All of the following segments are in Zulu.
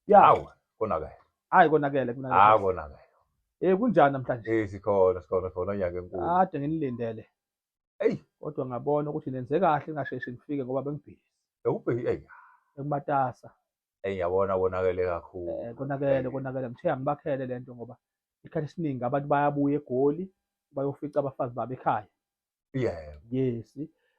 Yawu konakele. Hayi konakele kunale. Ah konakele. Eh kunjani namhlanje? Eh sikhona sikhona sikhona nyaka enkulu. Kade nginilindele. Ey kodwa ngabona ukuthi nenze kahle ngasheshi ngifike ngoba bengibhizi. Bekubheki ey. Ekumatasa. Ey yabona konakele kakhulu. Eh konakele konakele ngithe angibakhele lento ngoba isikhathi esiningi abantu bayabuya egoli bayofica abafazi babo ekhaya. Yeah. Yes.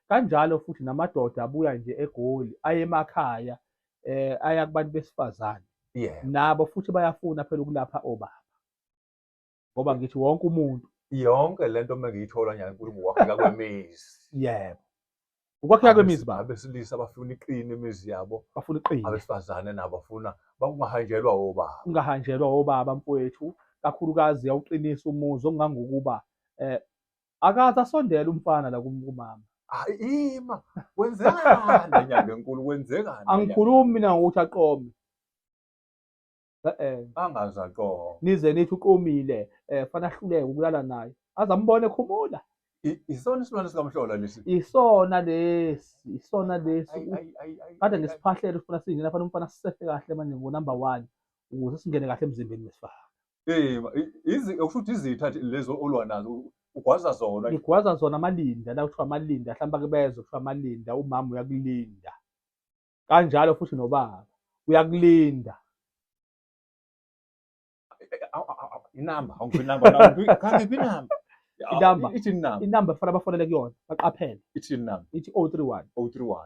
Kanjalo futhi namadoda abuya nje eGoli ayemakhaya eh aya kubantu besifazane. Yeah. Nabo futhi bayafuna phela ukulapha obaba. Ngoba ngithi wonke umuntu yonke lento mengiyithola nje uNkulunkulu wakheka kwemizi. Yebo. Ukwakheka kwemizi ba abesilisa bafuna iqini imizi yabo. Bafuna iqini. Abesifazane nabo bafuna bakungahanjelwa obaba. Ungahanjelwa obaba mfowethu kakhulukazi yawuqinisa umuzi ongangokuba eh akaze asondele umfana la kum- kumama Hayi ima kwenzekani enyanga enkulu kwenzekani? angikhulumi mina ngokuthi aqome e-e angazi aqoho. nize nithi uqomile um fana ahluleke ukulala naye aze ambone ekhumula I- Isona isilwane sikamhlola lesi. isona lesi isona lesi Ayi, ayi, ayi, ayi, kade ayi, ngisiphahlele ufuna singena fana umfana sisefe kahle manje ngo-number one ukuze singene kahle emzimbeni wesifana Eh, izi okusho ukuthi izitha lezo olwa nazo ugwaza zona. Ngigwaza zona amalinda la kuthiwa amalinda hlamba kubezo kuthiwa amalinda umama uyakulinda. Kanjalo futhi nobaba uyakulinda. Inamba awungiphi inamba kanti iphi inamba. Inamba ithi inamba. Inamba kufanele bafonele kuyona baqaphele. Ithi inamba. Ithi 031 031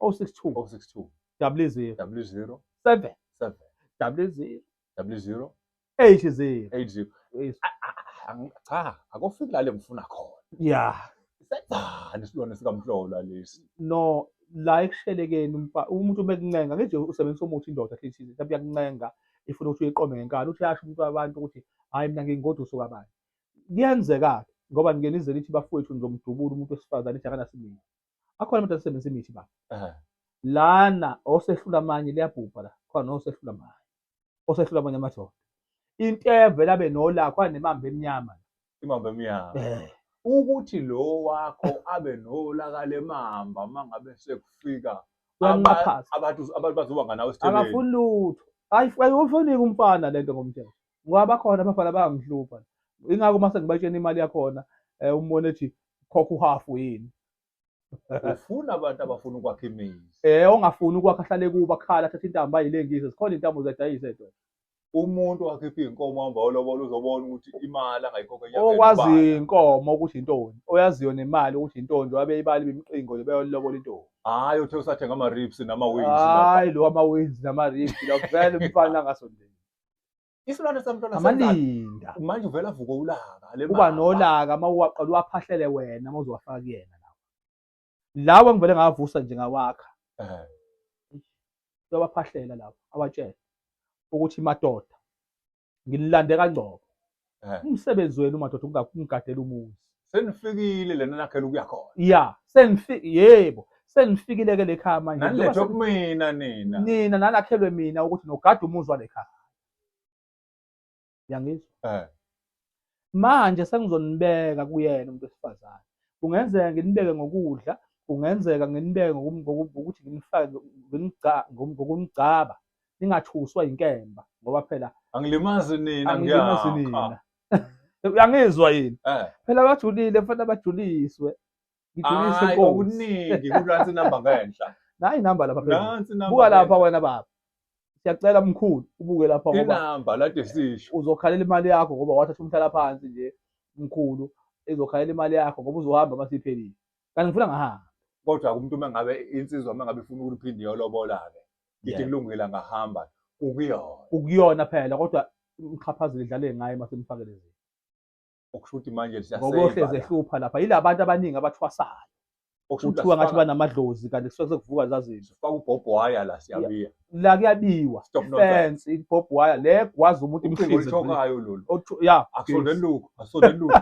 062 062 double zero double zero seven seven double zero double zero eight zero eight zero Yes. A- a- a- ang- cha akofiki lale ngifuna khona ya senzani isilwane sikamhlola lesi no la ekushelekeni umfa- umuntu uma ekuncenga ngeje usebenzisa umuthi indoda athi ithize mhlawumbe iyakuncenga ifuna ukuthi uyiqome ngenkani uthi yasho umuntu wabantu ukuthi hhayi mina ngingoda usuka bani kuyenzeka-ke ngoba ngike nize nithi bafowethu nizomdubula umuntu wesifazane ithi akanasibili akhona amadoda asebenzisa imithi baba Ehhe. lana osehlula amanye liyabhubha la khona osehlula amanye osehlula amanye amadoda inteve labe nolakho anemamba emnyama Imamba emnyama. Eh, Ukuthi lo wakho abe nolaka lemamba mangabe sekufika uyanqaphaza abantu abantu bazoba nganawe esiteleni. akafuni lutho Ayi- ayiwufuniki umfana lento ngomthetho ngoba bakhona abafana bayangihlupha ingakho uma sengibatshena imali yakhona um umbone ethi khokha uhafu yini ufuna abantu abafuna ukwakha imizi um ongafuni ukwakha ahlale kubo akhala athatha intambo ayilengise zikhona intambo ziyadayisa edo umuntu wakhipha iy'nkomo hamba olobola uzobona ukuthi imali angayikhokhe okwaziyo inkomo ukuthi intoni oyaziyo nemali ukuthi intoni njengoba beyibala ibimqingo nje beyolilobola intombi hhayi uthe usathenga ama-rips nama-wins hhayi lo ama-wins nama-rips la vele umfana angasondeli isilwane samntwana amalinda manje uvela vuko ulaka le kuba nolaka uma uwaqala uwaphahlele wena uma uzowafaka kuyena lawa lawa ngivele ngavusa nje ngawakha eh uyawaphahlela lawa awatshele ukuthi madoda ngililande kangcobo Eh. Umsebenzi wenu madoda ukungakumgadela umuzi. Senifikile lena nakhela ukuya khona. Yeah, senifike yebo. Senifikile ke lekhaya manje. Nanilethe kumina nina. Nina nanakhelwe mina ukuthi nogada umuzi walekhaya. Yangizwa? Eh. Manje sengizonibeka kuyena umuntu wesifazane. Kungenzeka nginibeke ngokudla, kungenzeka nginibeke ngokuthi nginifake ngokumgcaba. ningathuswa inkemba ngoba phela angilimazi nina angilimazi nina uyangizwa yini eh. phela abajulile mfana abajuliswe ngijulise inkosi okuningi kulansi number ngenhla nayi number lapha phela buka lapha wena baba siyacela mkhulu ubuke lapha ngoba inamba lade sisho uzokhalela imali yakho ngoba wathatha umhlala phansi nje mkhulu izokhalela imali yakho ngoba uzohamba masiphelile kanti ngifuna ngahamba kodwa umuntu uma ngabe insizwa uma ngabe ifuna ukuliphinde iyolobola-ke ithi kulungile angahamba ukuyona ukuyona phela kodwa umxhaphazile idlale ngaye uma semfake lezi okusho ukuthi manje ngokohlezi ehlupha lapha yila bantu abaningi abathwasayo kuthiwa ngathi banamadlozi kanti kusuke sekuvuka zazini sifaka ubhobho waya la siyabiya la kuyabiwa Stop nonsense. fence ibob wire le gwaza umuntu Ucingo imhlinze oluthokayo lolu. Othu- ya Akusonde luku, akusonde luku.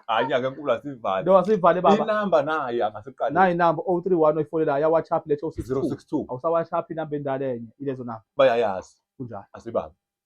Hayi nyaka enkulu asivali. no asivale baba Inamba naye angasiqali. nayi number 031 oyifonela ya whatsapp lethe 062 062 awusawashaphi inamba endala enye ilezo namba bayayazi kunjalo asibambe.